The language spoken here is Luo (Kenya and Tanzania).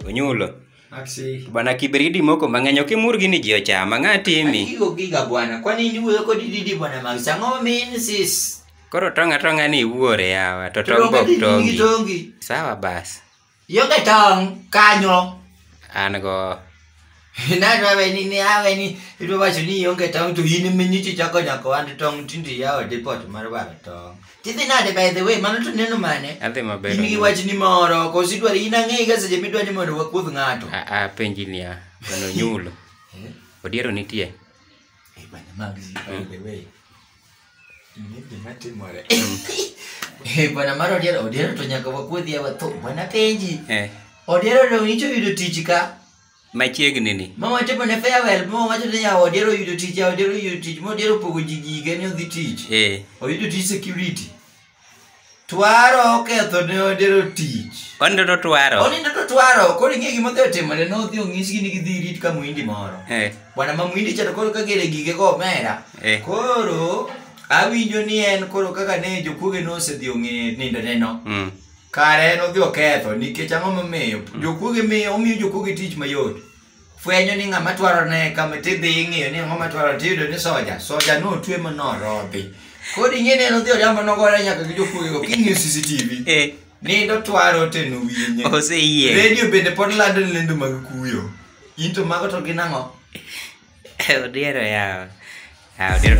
onyulo Aksi. bwana kibridi moko mang'eny ok imur gini ji ochama ng'a timi Akigo giga bwana, kwani iwuoyo kod didi bwana Max? Ang'o min sis? koro tong' atong'a ni iwuore yawa to tong' Tonge bok didi nigi tongi tongi. sawa bas Ionge tong' kanyo. An go. Nadwa weni ni aweni idwa wacho ni ionge tong' to in ema nyichi chako nyako wand tong' tinde iyawo depot mar waro tong'. Tidhi nade by the way mano to neno mane? Adhi maber. In gi wach ni moro koso idwaro in ang'eyi ga seche midwa ni mondo wakuodh ng'ato. A a penji niya, mano nyulo. Eh? Odiero nitie. Eh, bana mag zi by the way. Ni gima timore. Eh, bwana mar odiero odiero to nyaka wakuodhi awa tho bwana penji Eh, odiero dong' icho yudo tich ka machiegni ni ma watimo ne farewell ma wacho ni yawa odiero yudo tich yawa odiero yudo tich ma odiero pogo ji gige ni odhi tich Eh, oyudo tich security Twaro oketho ne odero tich. Onindo to twaro. Onindo to twaro. Koro ing'e gima odhi otimore ne odhi onyisgi ni gidhi rit ka mwindi moro. Eh. Bwana ma mwindi cha to koro ka gere gige go omera. Eh. Koro awinjo ni en koro kaka ne jokuoge ne osedhi ong'e nindo neno. Mm. Kare en odhi oketho nikech ang'o momiyo? Mm. Jokuoge miyo omiyo jokuoge tich mayot. fwenyo ni ng'ama twaro ne kama tidhi ing'iyo ni ng'ama twaro tiyudo ni soja soja notwe ma norodhi koro ing'e ni en odhi oriambo nogore nyaka gi jokuoyo king'iyo cctv Eh, nindo twaro te nowinye oseyie redio bende pod lando ni lendo mag kuyo in to mago to gin ang'o odiero yawa Ah, odiero